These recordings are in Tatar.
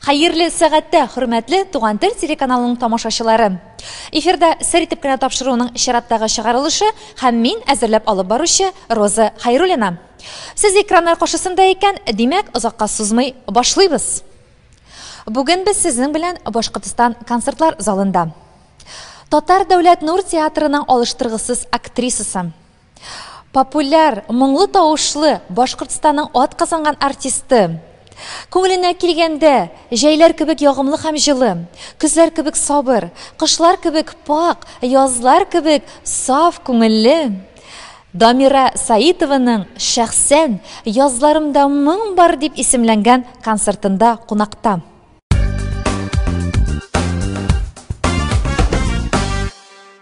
Хәерле сәгатьтә, хөрмәтле Туган тел телеканалының тамашачылары! Эфирда сер итеп кенә тапшыруның чираттагы чыгарылышы һәм мин, әзерләп алып баручы Роза Хәйруллина. Сез экраннар каршысында икән, димәк, озакка сузмый башлыйбыз! Бүген без сезнең белән Башкортстан концертлар залында. Татар дәүләт нур театрының алыштыргысыз актрисасы, Популяр, моңлы тавышлы Башкортстанның атказанган артисты. Күңеленә килгәндә, җәйләр кебек ягымлы һәм җылы, көзләр кебек сабыр, кышлар кебек пакь, язлар кебек саф күңелле Дамира Саитованың шәхсән Язларымда моң бар дип исемләнгән концертында кунакта.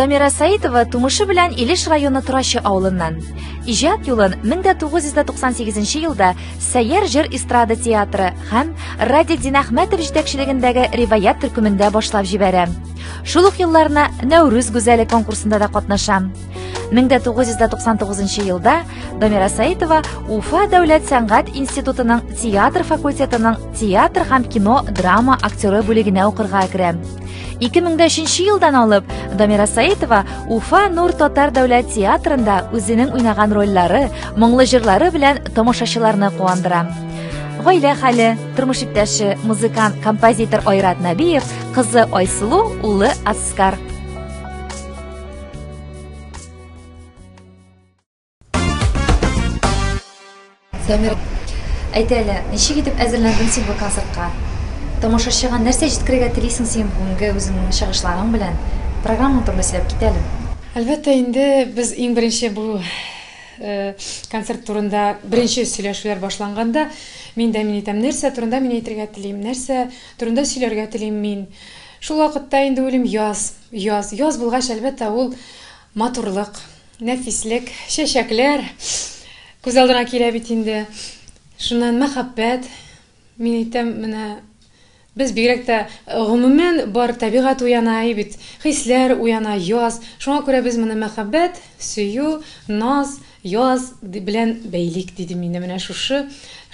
Дамира Саитова тумышы белән Илеш районы Турачы авылыннан. Иҗат юлын 1998 елда Сәер җыр эстрада театры һәм Радик Динәхмәтов җитәкчелегендәге Риваят төркемендә башлап җибәрә. Шул ук елларына Нәүрүз гүзәле конкурсында да катнашам. 1999 елда Дамира Саитова Уфа дәүләт сәнгать институтының театр факультетының театр һәм кино драма актеры бүлегенә укырга керәм. 2003 елдан алып Дамира Саитова Уфа Нур татар дәүләт театрында үзенең уйнаган рольләре, моңлы җырлары белән тамашачыларны куандыра. Гаилә хәле, тормыш иптәше, музыкант, композитор Айрат Нәбиев Кызы Айсылу, улы Аскар. Сәмир, әйт әле, ничек итеп әзерләндең син бу концертка? Тамашачыга нәрсә җиткерергә телисең син бүгенге үзеңнең чыгышларың белән? Программа турында сөйләп кит әле. Әлбәттә, инде без иң беренче бу э, концерт турында беренче сөйләшүләр башланганда, мин дә мин әйтәм, нәрсә турында мин әйтергә телим, нәрсә Турында сөйләргә телим мин. Шул вакытта инде уйлыйм, яз, яз. Яз булгач, әлбәттә, ул матурлык, нәфислек, чәчәкләр күз алдына килә бит инде. Шуннан мәхәббәт. Мин әйтәм, менә без бигрәк тә гомумән бар табигать уяна и бит, хисләр уяна яз. Шуңа күрә без моны мәхәббәт, сөю, наз, Яз белән бәйлик, диде мине менә шушы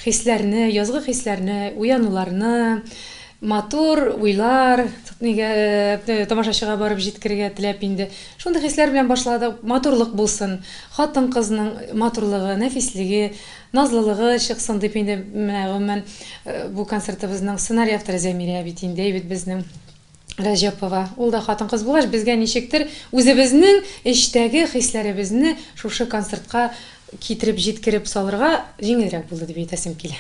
хисләрне, язгы хисләрне, уянуларны, матур уйлар, нигә, тамашачыга барып җиткерергә теләп инде. Шундый хисләр белән башладык. Матурлык булсын, хатын-кызның матурлыгы, нәфислеге, назлылыгы чыксын дип инде, менә гомумән, бу концертыбызның сценарий авторы Зәмирә бит инде, әйбит безнең. Рәҗәпова, ул да хатын-кыз булгач, безгә ничектер үзебезнең эчтәге хисләребезне шушы концертка китереп җиткереп салырга җиңелрәк булды дип әйтәсем килә.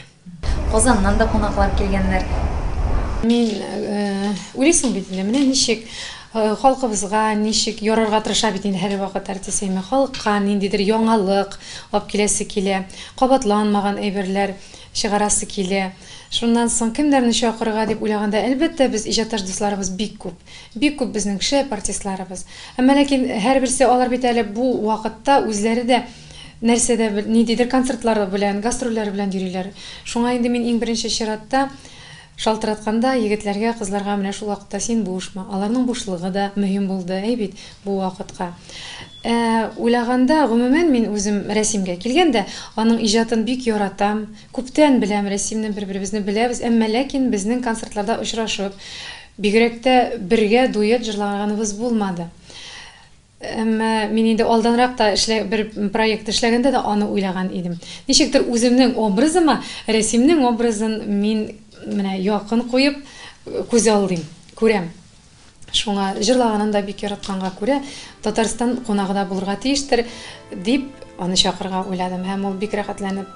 Казаннан да кунаклар килгәннәр. Мин уйлыйсың бит инде, менә ничек халкыбызга ничек ярарга тырыша бит инде һәрвакыт артист Фәймә. Халыкка ниндидер яңалык алып киләсе килә, кабатланмаган әйберләр. Чыгарасы килә. Шуннан соң кемнәрне чакырырга дип уйлаганда, әлбәттә, без иҗатташ дусларыбыз бик күп. Бик күп безнең шәп артистларыбыз. Әмма ләкин һәрберсе, алар бит әле бу вакытта үзләре дә нәрсәдә бер, ниндидер концертлары белән, гастрольләре белән йөриләр. Шуңа инде мин иң беренче чиратта, Шалтыратканда, егетләргә, кызларга менә шул вакытта син бушмы, аларның бушлыгы да мөһим булды, әй бит, бу вакытка. Ә уйлаганда, гомумән, мин үзем рәсимгә килгәндә, аның иҗатын бик яратам, күптән беләм рәсимне, бер-беребезне беләбез, әмма ләкин безнең концертларда очрашып, бигрәк тә бергә дуэт җырлаганыбыз булмады. Әмма мин инде алданрак та эшлә, бер проект эшләгәндә дә аны уйлаган идем. Ничектер үземнең образыма Рәсимнең образын мин менә якын куеп күз алдыйм, күрәм. Шуңа җырлаганын да бик яратканга күрә, Татарстан кунагы да булырга тиештер, дип аны чакырырга уйладым һәм ул бик рәхәтләнеп,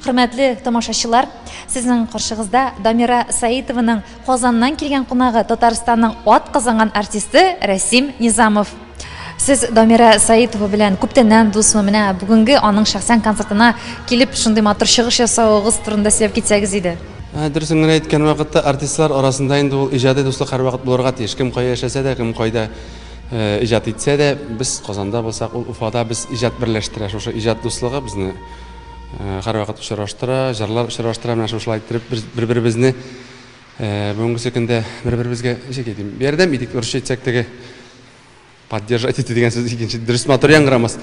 Хөрмәтле тамашачылар, сезнең каршыгызда Дамира Саитованың Казаннан килгән кунагы Татарстанның ат казанган артисты Рәсим Низамов. Сез Дамира Саитова белән күптәннән дусмы? Менә бүгенге аның шәхсән концертына килеп шундый матур чыгыш ясавыгыз турында сөйләп китсәгез иде. Ә, Дөресен генә әйткән вакытта, артистлар арасында инде ул иҗади дуслык һәрвакыт булырга тиеш. Кем кая яшәсә дә, кем кайда Иҗат итсә дә, без Казанда булсак, ул Уфада без иҗат берләштерә. Шушы иҗат дуслыгы безне һәрвакыт очраштыра, җырлар очраштыра. Менә шушылай иттереп бер-беребезне бүгенге көндә бер-беребезгә ничек әйтим, ярдәм итик, урысча әйтсәк теге поддержать итү дигән сүз икенче дөрес матур яңгырамас.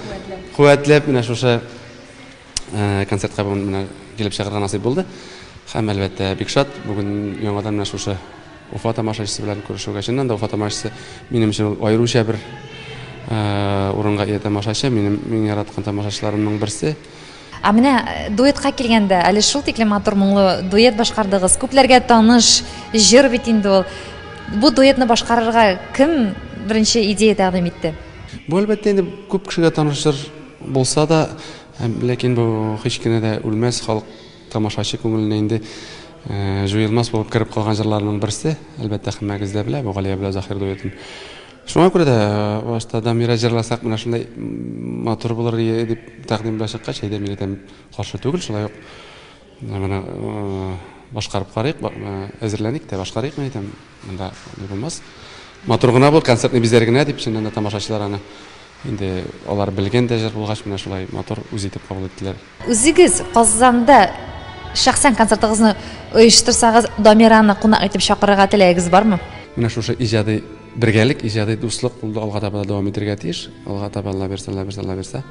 Куәтләп менә шушы концертка бүген менә килеп чыгарга насыйп булды. Һәм әлбәттә, бик шат бүген яңадан менә шушы Уфа тамашачысы белән күрешүгә. Чыннан да Уфа тамашачысы минем өчен ул аеруча бер урынга ия тамашачы, минем иң яраткан тамашачыларымның берсе. Ә менә дуэтка килгәндә, әле шул тиклем матур моңлы дуэт башкардыгыз. Күпләргә таныш җыр бит инде ул. Бу дуэтны башкарырга кем беренче идея тәкъдим итте? Бу әлбәттә инде күп кешегә таныш җыр. Булса да, ләкин бу һич кенә дә үлмәс, халык тамашачы күңеленә инде җуелмас булып кереп калган җырларның берсе. Әлбәттә, һәммәгез дә белә бу Галия белән Заһир дуэтын. Шуңа күрә дә башта Дамира җырласак, менә шундай матур булыр иде дип тәкъдим белән чыккач, әйдә, мин әйтәм, каршы түгел, шулай ук Менә башкарып карыйк, әзерләник тә башкарыйк, мин әйтәм, монда ни булмас. Матур гына бу, концертный бизәр генә дип, чыннан да тамашачылар аны инде алар белгән дә җыр булгач, менә шулай матур үз итеп кабул иттеләр. Үзегез Казанда шәхсән концертыгызны оештырсагыз, Дамираны кунак итеп чакырырга теләгегез бармы? Менә шушы иҗади бергәлек, иҗади дуслык ул да алга таба да дәвам итәргә тиеш. Алга таба Алла бирсә, Алла бирсә, Алла бирсә.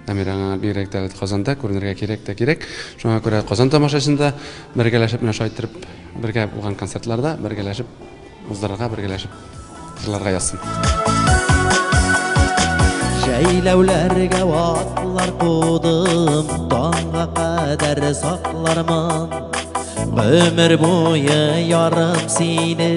Дамир аңа бигрәк тә Казанда күренергә кирәк тә кирәк. Шуңа күрә Казан тамашачында бергәләшеп менә шулай иттереп бергә булган концертларда бергәләшеп уздырырга, бергәләшеп җырларга язсын. Җәйләүләргә атлар кудым, таңга кадәр саклармын. Гомер буе ярым сине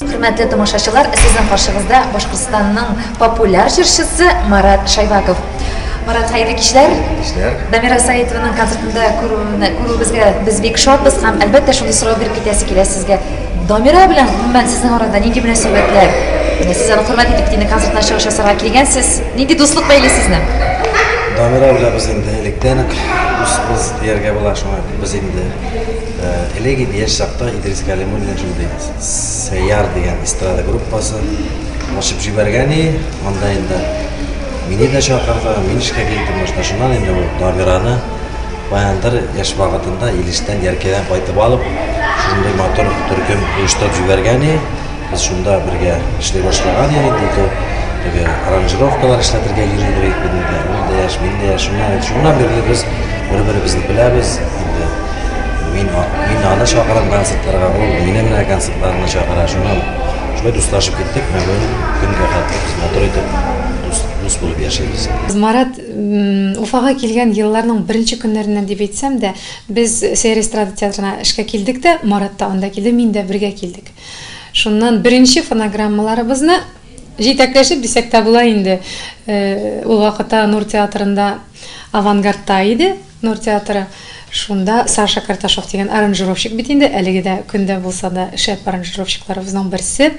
Хөрмәтле тамашачылар, сезнең каршыгызда Башкортстанның популяр җырчысы Марат Шайбаков. Марат, хәерле кичләр. Кичләр. Дамира Саитованың концертында күрүне күрүебезгә без бик шатбыз һәм әлбәттә шундый сорау биреп китәсе килә сезгә. Дамира белән гомумән сезнең арада нинди мөнәсәбәтләр? Сез аны хөрмәт итеп динә концертына чыгыш ясарга килгәнсез. Нинди дуслык бәйли сезне? Дамира белән без инде электән үк дусбыз дияргә була шуңа без инде Элек инде яшь чакта Идрис Галимуллин белән шундый Сәяр дигән эстрада группасы ачып җибәргән и, анда инде мине дә чакырды, мин эшкә килдем башта. Шуннан инде ул Дамираны баяндыр яшь вакытында Илештән Яркәйдән кайтып алып, шундый матур төркем оештырып җибәргән и. Без шунда бергә эшли башлаган идек, бу тел теге аранжировкалар эшләтергә йөри идек бит инде. Ул да яшь, мин дә яшь. Шуннан, шуннан бирле без бер-беребезне беләбез. Инде мин, мин аны чакырам концертларга, ул мине менә концертларына чакыра. Шуннан шулай дуслашып киттек, менә бүген көнгә хәтле без матур итеп дус, дус булып яшибез. Марат Уфага килгән елларның беренче көннәреннән дип әйтсәм дә, без Сәер эстрада театрына эшкә килдек тә, Марат та анда килде, мин дә бергә килдек. Шуннан беренче фонограммаларыбызны җитәкләшеп дисәк тә була инде. Ул вакытта Нур театрында Авангардта иде, Нур театры. Шунда Саша Карташов дигән аранжировщик бит инде, әлеге дә көндә булса да шәп аранжировщикларыбызның берсе.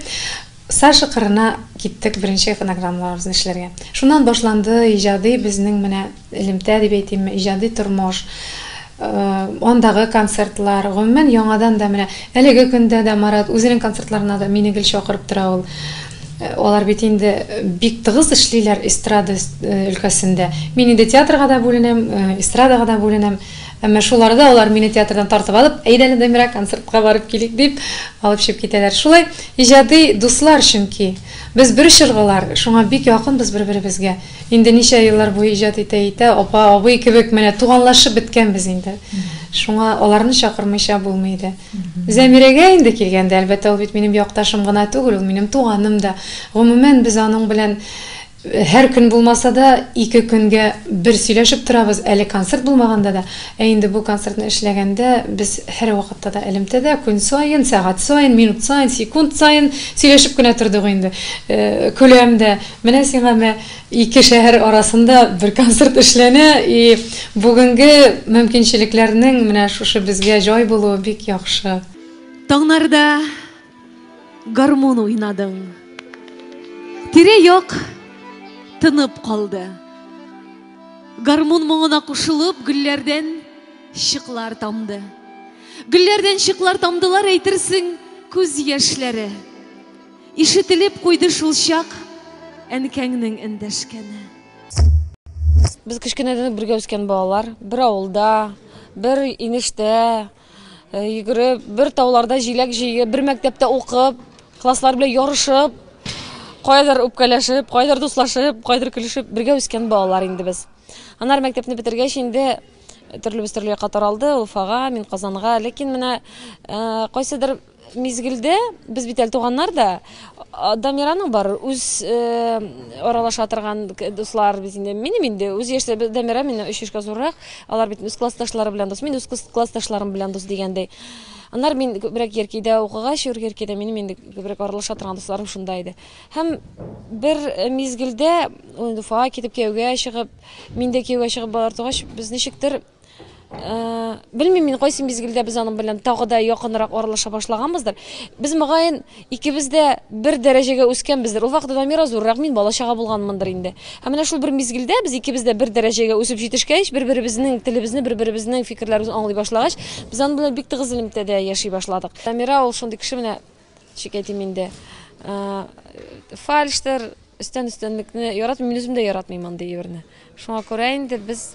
Саша кырына киттек беренче фонограммаларыбызны эшләргә. Шуннан башланды иҗади безнең менә элемтә дип әйтимме, иҗади тормыш, андагы концертлар, гомумән, яңадан да менә әлеге көндә дә Марат үзенең концертларына да мине гел чакырып тора ул. Алар бит инде бик тыгыз эшлиләр эстрада өлкәсендә. Мин инде театрга да бүленәм, эстрадага да бүленәм. Әмма шул арада алар мине театрдан тартып алып, әйдә әле, Дамира, концертка барып килик, дип, алып чыгып китәләр. Шулай иҗади дуслар чөнки. Без бер чоргылар, шуңа бик якынбыз бер-беребезгә. Инде ничә еллар буе иҗат итә-итә, апа, абый кебек менә туганлашып беткәнбез инде. Шуңа аларны чакырмыйча булмый иде. Зәмирәгә инде килгәндә, әлбәттә, ул бит минем якташым гына түгел, ул минем туганым да. Гомумән, без аның белән һәр көн булмаса да, ике көнгә бер сөйләшеп торабыз, әле концерт булмаганда да. Ә инде бу концертны эшләгәндә, без һәрвакытта да элемтәдә, көн саен, сәгать саен, минут саен, секунд саен сөйләшеп кенә тордык инде. Көләм дә. Менә сиңа мә, ике шәһәр арасында бер концерт эшләнә, и бүгенге мөмкинчелекләрнең менә шушы безгә җай булуы бик яхшы. Таңнарда гармун уйнадың. Тирә-як тынып калды. Гармун моңына кушылып, гөлләрдән чыклар тамды. Гөлләрдән чыклар тамдылар, әйтерсең, күз яшьләре. Ишетелеп куйды шулчак әнкәңнең эндәшкәне. Без кечкенәдән үк бергә үскән балалар. Бер авылда, бер инештә йөгереп, бер тауларда җиләк җыеп, бер мәктәптә укып, класслар белән ярышып, кайдыр үпкәләшеп, кайдыр дуслашып, кайдыр көлешеп бергә үскән балалар инде без. Анар мәктәпне бетергәч инде төрлебез төрле якка таралды, Уфага, мин Казанга. Ләкин менә кайсыдыр Мизгелдә без бит әле туганнар да. Дамираның бар үз аралаша торган дуслар бит инде. Минем инде үз яшьтә Дамира миннән өч яшькә зуррак. Алар бит үз классташлары белән дус. Мин үз классташларым белән дус дигәндәй. Аннары мин күбрәк Еркидә укыгач, Еркидә минем инде күбрәк аралаша торган дусларым шунда иде. Һәм бер мизгелдә Уфага китеп кияүгә чыгып, мин дә кияүгә чыгып балалар тугач, без ничектер белмим мин кайсы мизгелдә без аның белән тагы да якынрак аралаша башлаганбыздыр без мөгаен икебез дә бер дәрәҗәгә үскәнбездер ул вакыт дамира зуррак мин бала чага булганмындыр инде һәм менә шул бер мизгелдә без икебез дә бер дәрәҗәгә үсеп җитешкәч бер беребезнең телебезне бер беребезнең фикерләребезне аңлый башлагач без аның белән бик тыгыз элемтәдә яши башладык дамира ул шундый кеше менә Шикәйтим инде. Фальштер, өстән өстәнлекне яратмыйм, мин үзем дә яратмыйм андый әйберне. Шуңа күрә инде без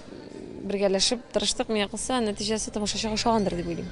бергәләшеп тырыштык, миңа калса, нәтиҗәсе тамашачыга ошагандыр дип уйлыйм.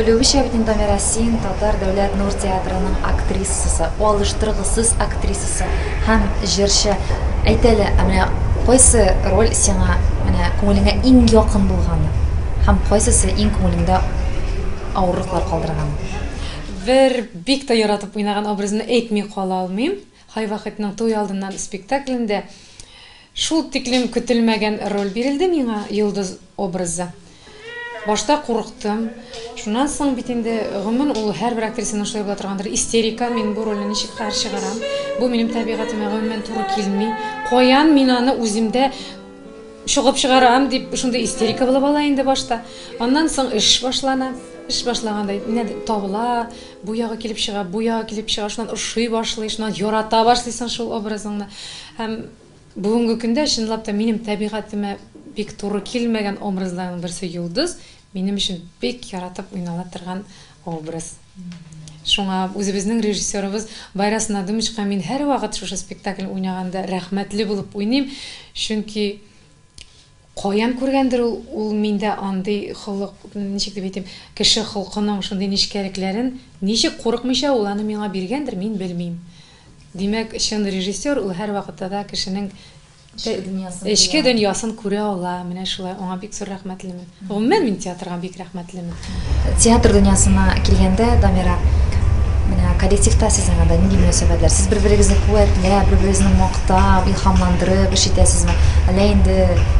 Белүемчә бит инде Дамира син Татар дәүләт нур театрының актрисасы, алыштыргысыз актрисасы һәм җырчы. Әйт әле, ә менә кайсы роль сиңа менә күңелеңә иң якын булганы һәм кайсысы иң күңелеңдә авырлыклар калдырган? Бер бик тә яратып уйнаган образны әйтми кала алмыйм. Хайвакытның туй алдыннан спектаклендә шул тиклем көтелмәгән роль бирелде миңа, Йолдыз образы. Башта курыктым. Шуннан соң бит инде, гомумән, ул һәрбер актрисаның шулай була торгандыр, истерика, мин бу рольне ничек каршы чыгарам, бу минем табигатемә гомумән туры килми, каян мин аны үземдә чогып чыгарам, дип шундый истерика булып ала инде башта. Аннан соң эш башлана. Эш башлаганда, менә табыла, Бу ягы килеп чыга, бу ягы килеп чыга, шуннан ошый башлый, шуннан ярата башлыйсың шул образыңны. Һәм бүгенге көндә, чынлап та, минем табигатемә бик туры килмәгән образларның берсе Йолдыз, минем өчен бик яратып уйнала торган образ. Шуңа үзебезнең режиссерыбыз Байрас Надымычка мин һәрвакыт шушы спектакль уйнаганда рәхмәтле булып уйныйм, чөнки Каян күргәндер ул, ул миндә андый холык, ничек дип әйтим, кеше холкының шундый нечкәлекләрен, ничек курыкмыйча ул аны миңа биргәндер, мин белмим. Димәк, чын режиссер, ул һәрвакытта да кешенең Эчке дөньясын белә. Эчке дөньясын күрә ала, менә шулай, аңа бик зур рәхмәтлемен. Гомумән, мин театрга бик рәхмәтлемен. Театр дөньясына килгәндә, Дамира, менә коллективта сезнең анда нинди мөнәсәбәтләр? Сез бер-берегезне куәтләп, бер-берегезне мактап, илһамландырып эш итәсезме? Әллә инде,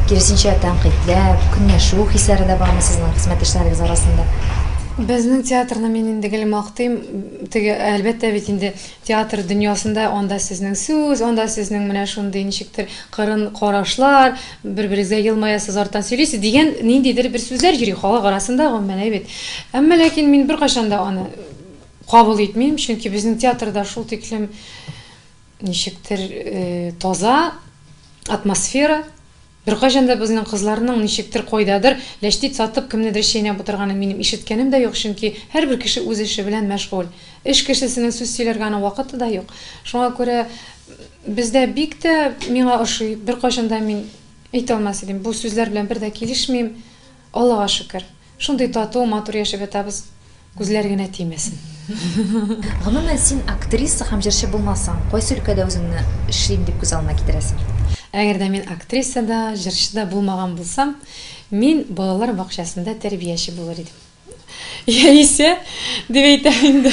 киресенчә, тәнкыйтьләп, көнләшү хисләре дә бармы сезнең хезмәттәшләрегез арасында? Безнең театрны мин инде гел мактыйм. Теге, әлбәттә бит инде, Театр дөньясында анда сезнең сүз, анда сезнең менә шундый ничектер кырын карашлар, бер-берегезгә елмаясыз, арттан сөйлисез, дигән ниндидер бер сүзләр йөри халык арасында, гомумән әйбит. Әмма ләкин мин беркайчан да аны кабул итмим, чөнки безнең театрда шул тиклем ничектер таза атмосфера. Беркайчан да безнең кызларның ничектер, кайдадыр, ләчтит сатып, кемнедер чәйнәп утырганын минем ишеткәнем дә юк, чөнки һәрбер кеше үз эше белән мәшгуль. Эш кешесенең сүз сөйләргә аның вакыты да юк. Шуңа күрә бездә бик тә миңа ошый, беркайчан да мин әйтә алмас идем, бу сүзләр белән бер дә килешмим. Аллага шөкер, шундый тату, матур яшәп ятабыз, күзләр генә тимәсен. Гомумән, син актриса һәм җырчы булмасаң, кайсы өлкәдә үзеңне эшлим дип күз алдына китерәсең? Әгәр дә мин актриса да, җырчы да булмаган булсам, мин балалар бакчасында тәрбияче булыр идем. Яисә, дип әйтәм инде,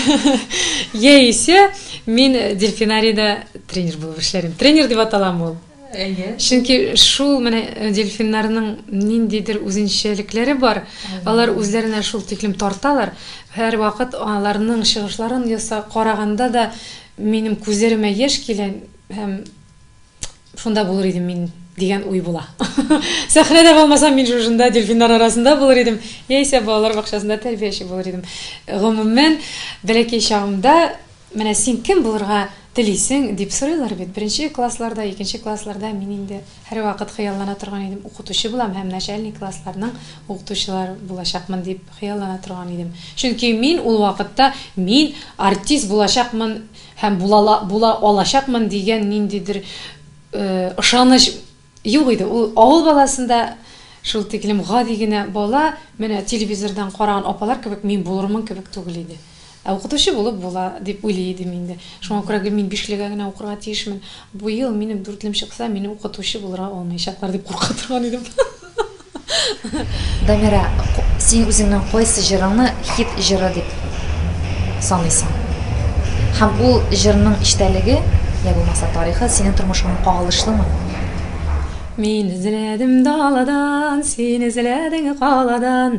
яисә мин дельфинарида тренер булып эшләр идем. Тренер дип атала мо ул? Чөнки шул менә э, дельфиннарның ниндидер үзенчәлекләре бар. Алар үзләренә шул тиклем тарталар. Һәр вакыт аларның чыгышларын яса караганда да минем күзләремә яшь килә һәм шунда булыр идем мин дигән уй була. Сәхнәдә булмасам, мин шушында дельфиннар арасында булыр идем, яисә балалар бакчасында тәрбияче булыр идем. Гомумән, бәләкәй чагымда Менә син кем булырга телисең? дип сорыйлар бит. Беренче классларда, икенче классларда мин инде һәрвакыт хыяллана торган идем, укытучы булам һәм начальник классларның укытучылар булачакмын дип хыяллана торган идем. Чөнки мин ул вакытта мин артист булачакмын һәм була була алачакмын дигән ниндидер ышаныч Юк иде, ул авыл баласында шул тиклем гади генә бала, менә телевизордан караган апалар кебек мин булырмын кебек түгел иде. Ә укытучы булып була, дип уйлый идем инде. Шуңа күрә гел мин бишлегә генә укырга тиешмен, бу ел минем дүртлем чыкса, мине укытучы булырга алмаячаклар, дип курка торган идем. Дамирә, син үзеңнең кайсы җырыңны хит җыры дип саныйсың? Һәм ул җырның эчтәлеге, йә булмаса тарихы синең тормышыңа кагылышлымы? Мин эзләдем даладан, син эзләдең каладан,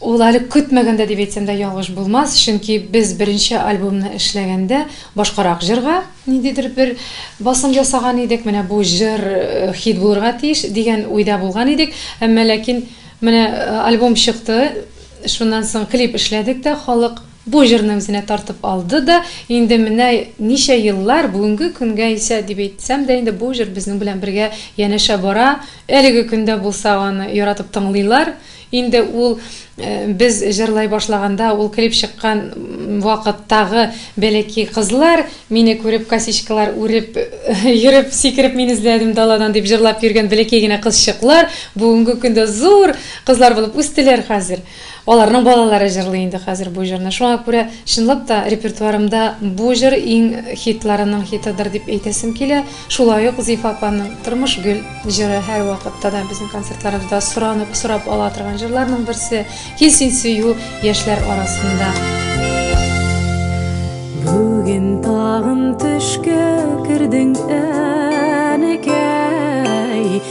Ул әле көтмәгәндә дип әйтсәм дә ялгыш булмас, чөнки без беренче альбомны эшләгәндә башкарак җырга ниндидер бер басым ясаган идек, менә бу җыр хит булырга тиеш, дигән уйда булган идек. Әмма ләкин менә альбом чыкты, шуннан соң клип эшләдек тә, халык. Бу җырны үзенә тартып алды да, инде менә ничә еллар, бүгенге көнгә исә дип әйтсәм дә инде, бу җыр безнең белән бергә янәшә бара. Әлеге көндә булса аны яратып тыңлыйлар. Инде ул без җырлай башлаганда, ул клип чыккан вакыттагы бәләкәй кызлар, мине күреп косичкалар үреп йөреп, сикереп мин эзләдем даладан дип җырлап йөргән бәләкәй генә кызчыклар, бүгенге көндә зур кызлар булып үстеләр хәзер. Аларның балалары җырлый инде хәзер бу җырны. Шуңа күрә, чынлап та, репертуарымда бу җыр иң хитларының хитыдыр дип әйтәсем килә. Шулай ук Зифа апаның Тормыш гөл җыры һәрвакытта да безнең концертларыбызда соранып, сорап ала торган җырларның берсе. Кил син сөю яшьләр арасында. Бүген тагын төшкә кердең, әнекәй.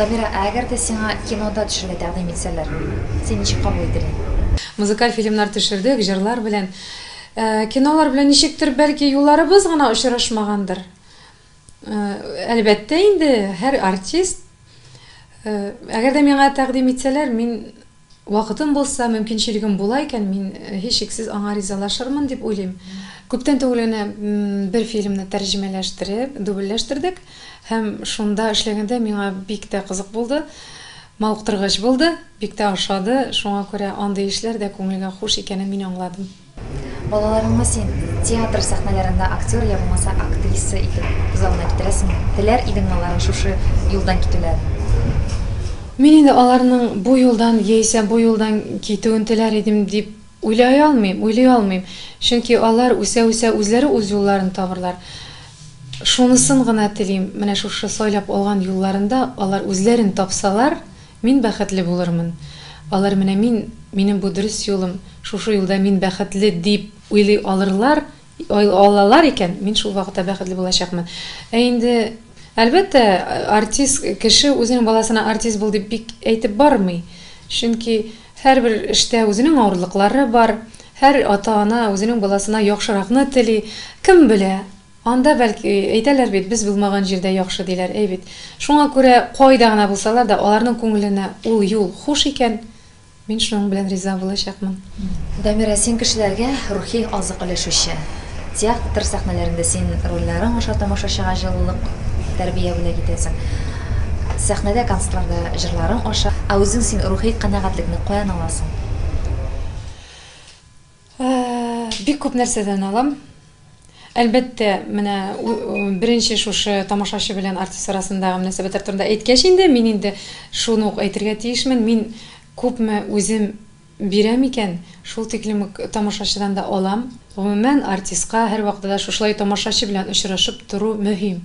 Дамира, ә әгәр дә сиңа кинода төшергә тәкъдим итсәләр, син ничек кабул итер идең? Музыкаль фильмнар төшердек, җырлар белән. Кинолар белән ничектер, бәлки, юлларыбыз гына очрашмагандыр. Әлбәттә инде, һәр артист. Әгәр дә миңа тәкъдим итсәләр, мин вакытым булса, мөмкинчелегем була икән, мин һичшиксез аңа ризалашырмын дип уйлыйм. Күптән түгел генә бер фильмны тәрҗемәләштереп, дубльләштердек һәм шунда эшләгәндә миңа бик тә кызык булды, мавыктыргыч булды, бик тә ошады. Шуңа күрә андый эшләр дә күңелгә хуш икәнен мин аңладым. Балаларыңны син театр сәхнәләрендә актер я булмаса актриса итеп узарына китерәсеңме? Теләр идеңме аларның шушы юлдан китүләрен? Мин инде аларның бу юлдан яисә бу юлдан китүен теләр идем дип уйлай алмыйм, уйлый алмыйм. Чөнки алар үсә-үсә үзләре үз юлларын табырлар. Шунысын гына телим, менә шушы сайлап алган юлларында алар үзләрен тапсалар, Мин бәхетле булырмын. Алар менә мин, минем бу дөрес юлым, шушы юлда мин бәхетле дип уйлый алырлар, алалар икән, мин шул вакытта бәхетле булачакмын. Ә инде, әлбәттә, артист кеше үзенең баласына артист бул дип бик әйтеп бармый. Чөнки һәрбер эштә үзенең авырлыклары бар, һәр ата-ана үзенең баласына яхшыракны тели. Кем белә? Анда, бәлки, әйтәләр бит, без булмаган җирдә яхшы, диләр, әй бит. Шуңа күрә, кайда гына булсалар да, аларның күңеленә ул юл хуш икән, мин шуның белән риза булачакмын. Дамира, син кешеләргә рухи азык өләшүче. Театр сәхнәләрендә син рольләрең аша тамашачыга җылылык, тәрбия бүләк итәсең. Сәхнәдә, концертларда җырларың аша. Ә үзең син рухи канәгатьлекне каян аласың? Бик күп нәрсәдән алам. Әлбәттә, менә беренче шушы тамашачы белән артист арасындагы мөнәсәбәтләр турында әйткәч инде, мин инде шуны ук әйтергә тиешмен. Мин күпме үзем бирәм икән, шул тиклем үк тамашачыдан да алам. Гомумән, артистка һәрвакытта да шушылай тамашачы белән очрашып тору мөһим.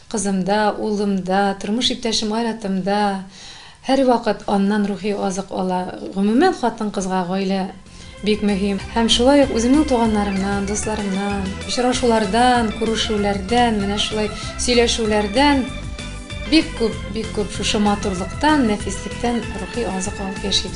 Кызымда, улымда, тормыш иптәшем Айратымда һәрвакыт аннан рухи азык ала. Гомумән, хатын-кызга гаилә бик мөһим. Һәм шулай ук үземнең туганнарымнан, дусларымнан, очрашулардан, күрешүләрдән, менә шулай сөйләшүләрдән бик күп, бик күп шушы матурлыктан, нәфислектән рухи азык алып яшим.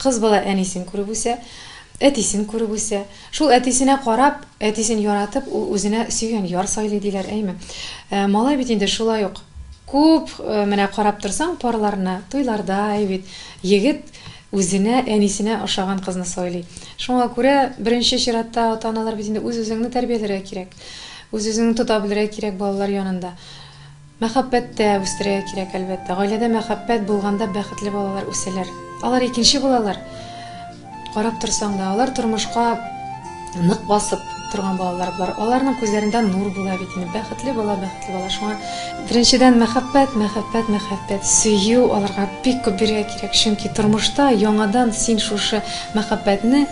Кыз бала әнисен күреп үсә, әтисен күреп үсә. Шул әтисенә карап, әтисен яратып, ул үзенә сөйгән яр сайлый, диләр, әйме. Ә малай бит инде шулай ук күп, менә карап торсаң, парларны, туйларда, әй бит, егет үзенә, әнисенә ошаган кызны сайлый. Шуңа күрә, беренче чиратта, ата-аналар бит инде үз-үзеңне тәрбияләргә кирәк. Үз-үзеңне тота белергә кирәк балалар янында. Мәхәббәт тә үстерергә кирәк, әлбәттә. Гаиләдә мәхәббәт булганда бәхетле балалар үсәләр. Алар икенче булалар. Карап торсаң да, алар тормышка нык басып торган балалар болар. Аларның күзләрендә нур була бит инде. Бәхетле бала, бәхетле бала. Шуңа беренчедән мәхәббәт, мәхәббәт, мәхәббәт, сөю аларга бик күп бирергә кирәк. Чөнки тормышта яңадан син шушы мәхәббәтне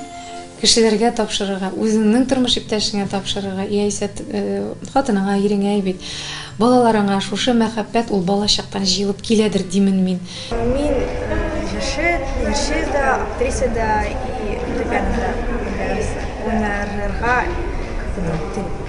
Кешеләргә тапшырырга, үзеңнең тормыш иптәшеңә тапшырырга яисә хатыныңа, иреңә әй бит. Балаларыңа шушы мәхәббәт ул балачактан җыелып киләдер димен мин. Мин җырчы, җырчы да, актриса да и фортепиано да уйнарга күп телим.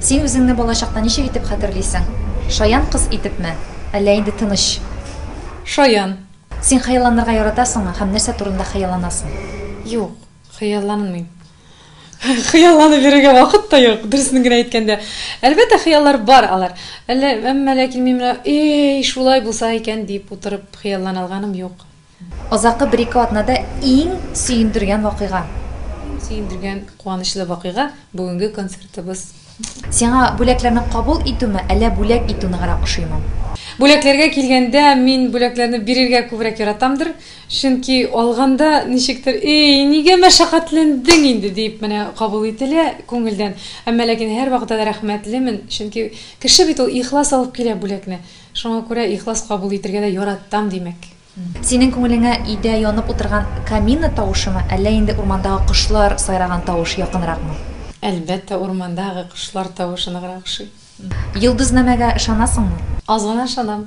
Син үзеңне балачакта ничек итеп хәтерлисең? Шаян кыз итепме, әллә инде тыныч? Шаян. Син хыялланырга яратасыңмы һәм нәрсә турында хыялланасың? Юк, хыялланмыйм. Хыялланып йөрергә вакыт та юк, дөресен генә әйткәндә. Әлбәттә, хыяллар бар алар. Әллә, әмма ләкин мин менә, Эй, шулай булса икән, дип утырып хыяллана алганым юк. Азаккы бер-ике атнада иң сөендергән вакыйга? Сөендергән, куанычлы вакыйга, бүгенге концертыбыз. Сиңа бүләкләрне кабул итүме, әллә бүләк итү ныграк ошыймы? Бүләкләргә килгәндә, мин бүләкләрне бирергә күбрәк яратамдыр. Чөнки алганда ничектер, Эй, нигә мәшәкатьләндең инде? диеп менә кабул ителә күңелдән. Әмма ләкин һәрвакыта да рәхмәтлемен, чөнки кеше бит ул ихлас алып килә бүләкне. Шуңа күрә ихлас кабул итергә дә яратам, димәк. Синең күңелеңә өйдә янып утырган камина тавышымы, әллә инде урмандагы кошлар сайраган тавыш якынракмы? Әлбәттә, урмандагы кошлар тавышы ныграк ошый. Йолдызнамәгә ышанасыңмы? Аз гына ышанам.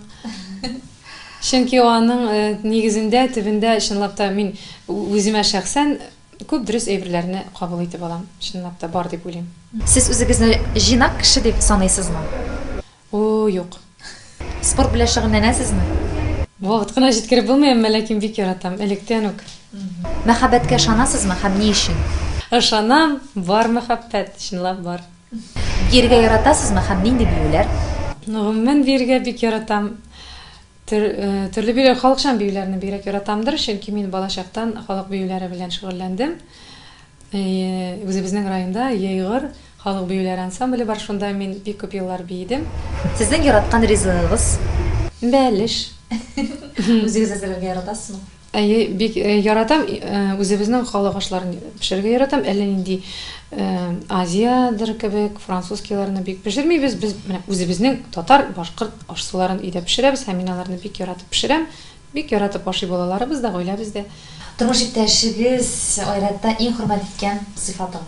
Чөнки аның нигезендә, төбендә, чынлап та, мин үземә шәхсән күп дөрес әйберләрне кабул итеп алам. Чынлап та, бар дип уйлыйм. Сез үзегезне җыйнак кеше дип саныйсызмы? О, юк. Спорт белән шөгыльләнәсезме? Вакыт кына җиткереп булмый, әмма ләкин бик яратам, электән үк. Мәхәббәткә ышанасызмы һәм ни өчен? Ышанам, бар мәхәббәт, чынлап бар. Биергә яратасызмы һәм нинди биюләр? Гомумән, биергә бик яратам. Төр, төрле биюләр, халыкчан биюләрне бигрәк яратамдыр, чөнки мин балачактан халык биюләре белән шөгыльләндем. Әйе, үзебезнең районда Егор халык биюләре ансамбле бар, шунда мин бик күп еллар биедем. Сезнең яраткан ризыгыгыз? Бәлеш. Үзегез әзерләргә яратасызмы? Әйе, бик яратам. Үзебезнең халык ашларын пешерергә яратам. Әллә нинди Азиядер кебек, французскийларны бик пешермибез. Без менә үзебезнең татар, башкорт аш-суларын өйдә пешерәбез һәм мин аларны бик яратып пешерәм. Бик яратып ашый балаларыбыз да, гаиләбез дә. Тормыш иптәшегез айрәттә иң хөрмәт иткән сыйфатың?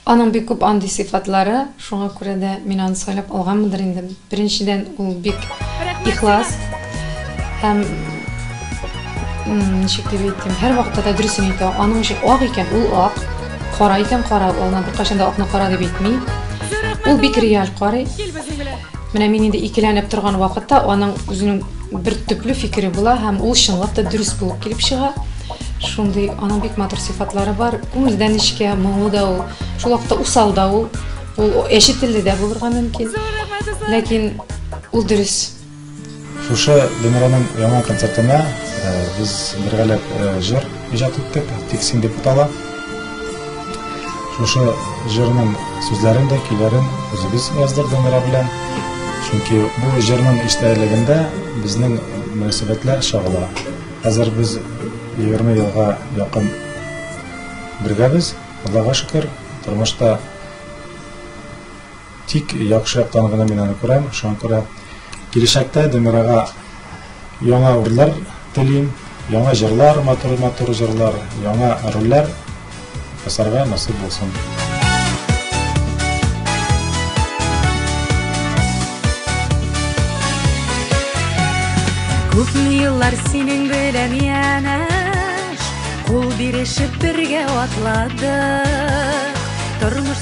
Аның бик күп андый сыйфатлары, шуңа күрә дә мин аны сайлап алганмындыр инде. Беренчедән, ул бик ихлас һәм, ничек дип әйтим, һәрвакытта да дөресен әйтә. Аның өчен ак икән, ул ак, кара икән, кара. Ул аңа беркайчан да акны кара дип әйтми. Ул бик реаль карый. Менә мин инде икеләнеп торган вакытта аның үзенең. бер төпле фикере була һәм ул чынлап та дөрес булып килеп чыга шундый аның бик матур сыйфатлары бар күңелдән эчкә моңлы да ул шул вакытта усал да ул ул әче телле дә булырга мөмкин ләкин ул дөрес шушы динраның яңа концертына э, без бергәләп э, җыр иҗат иттек тиксин дип атала Шушы җырның сүзләрен дә, көйләрен үзебез яздык Дамира белән. Чөнки бу җырның эчтәлегендә безнең мөнәсәбәтләр чагыла. Хәзер без 20 елга якын бергәбез. Аллага шөкер, тормышта Тик яхшы яктан гына мин аны күрәм, шуңа күрә киләчәктә Демирага яңа урлар телим, яңа җырлар, матур-матур җырлар, яңа рольләр ясарга насыйп булсын. Күпме еллар синең белән янәш, кул бирешеп бергә атладык. Тормыш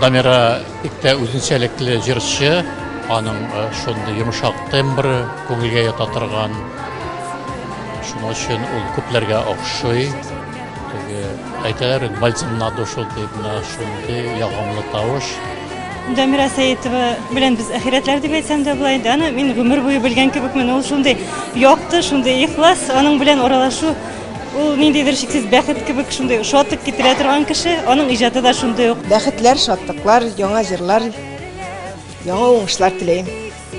Дамира бик тә үзенчәлекле җырчы, аның э, шундый йомшак тембры, күңелгә ята торган. Шуның өчен ул күпләргә охшый. Теге әйтәләр, бальзам на душу дип, менә шундый ягымлы тавыш. Дамира Сәетова белән без әхирәтләр дип әйтсәм дә болай да, аны мин гомер буе белгән кебекмен. Ул шундый якты, шундый ихлас, аның белән аралашу Ул ниндидер чиксез бәхет кебек шундый шатлык китерә торган кеше, аның иҗаты да шундый ук. Бәхетләр, шатлыклар, яңа җырлар, яңа уңышлар теләйм.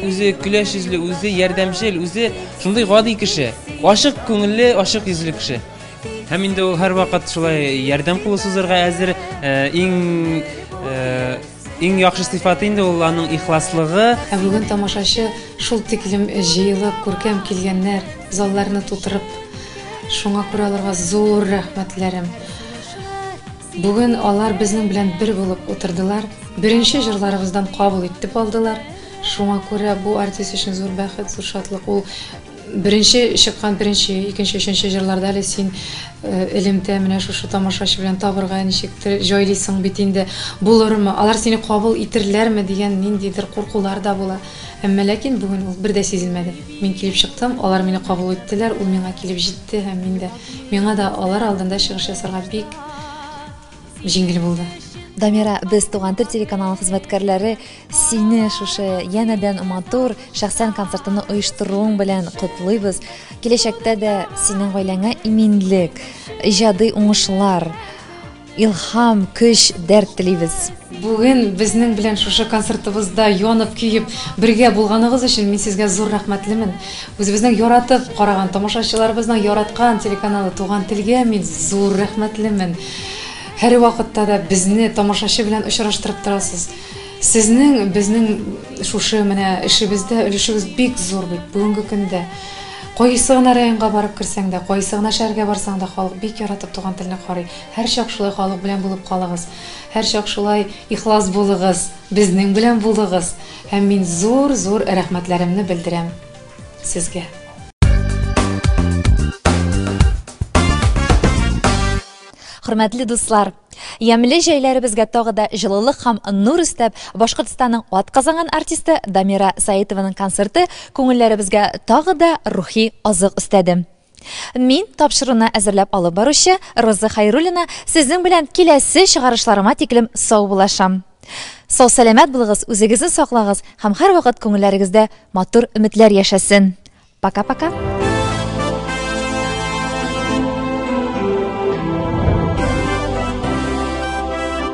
Үзе көләч йөзле, үзе ярдәмчел, үзе шундый гади кеше. Ачык күңелле, ачык йөзле кеше. Һәм инде ул һәрвакыт шулай ярдәм кулы сузырга әзер, иң Иң яхшы сыйфаты инде ул аның ихласлыгы. Ә бүген тамашачы шул тиклем җыелып, күркәм килгәннәр, залларны тутырып. Шуңа күрә аларга зур рәхмәтләрем. Бүген алар безнең белән бер булып утырдылар. Беренче җырларыбыздан кабул итеп алдылар. Шуңа күрә бу артист өчен зур бәхет, зур шатлык. Ул Беренче чыккан беренче, икенче, өченче җырларда әле син элемтә менә шушы тамашачы белән табырга ничектер җайлыйсың бит инде. Булырмы, алар сине кабул итерләрме дигән ниндидер куркулар да була. Әмма ләкин бүген ул бер дә сизелмәде. Мин килеп чыктым, алар мине кабул иттеләр, ул миңа килеп җитте һәм мин дә. Миңа да алар алдында чыгыш ясарга бик җиңел булды. Дамира, без Туган тел телеканалы хезмәткәрләре сине шушы янәдән матур шәхсән концертны оештыруың белән котлыйбыз. Киләчәктә дә синең гаиләңә иминлек, иҗади уңышлар, илһам, көч, дәрт телибез. Бүген безнең белән шушы концертыбызда янып-көеп бергә булганыгыз өчен мин сезгә зур рәхмәтлемен. Үзебезнең яратып караган, тамашачыларыбызның яраткан телеканалы Туган телгә мин зур рәхмәтлемен. Һәрвакытта да безне тамашачы белән очраштырып торасыз. Сезнең безнең шушы менә эшебездә өлешегез бик зур бит бүгенге көндә. Кайсы гына районга барып керсәң дә, кайсы гына шәһәргә барсаң да, халык бик яратып туган телне карый. Һәрчак шулай халык белән булып калыгыз. Һәрчак шулай ихлас булыгыз, безнең белән булыгыз һәм мин зур зур рәхмәтләремне белдерәм сезгә. Хөрмәтле дуслар! Ямьле җәйләребезгә тагы да җылылык һәм нур өстәп, Башкортстанның атказанган артисты Дамира Саитованың концерты күңелләребезгә тагы да рухи азык өстәде. Мин, тапшыруны әзерләп алып баручы Роза Хәйруллина, сезнең белән киләсе чыгарышларыма тиклем саубуллашам. Сау-сәламәт булыгыз, үзегезне саклагыз һәм һәрвакыт күңелләрегездә матур өметләр яшәсен. Пока-пока!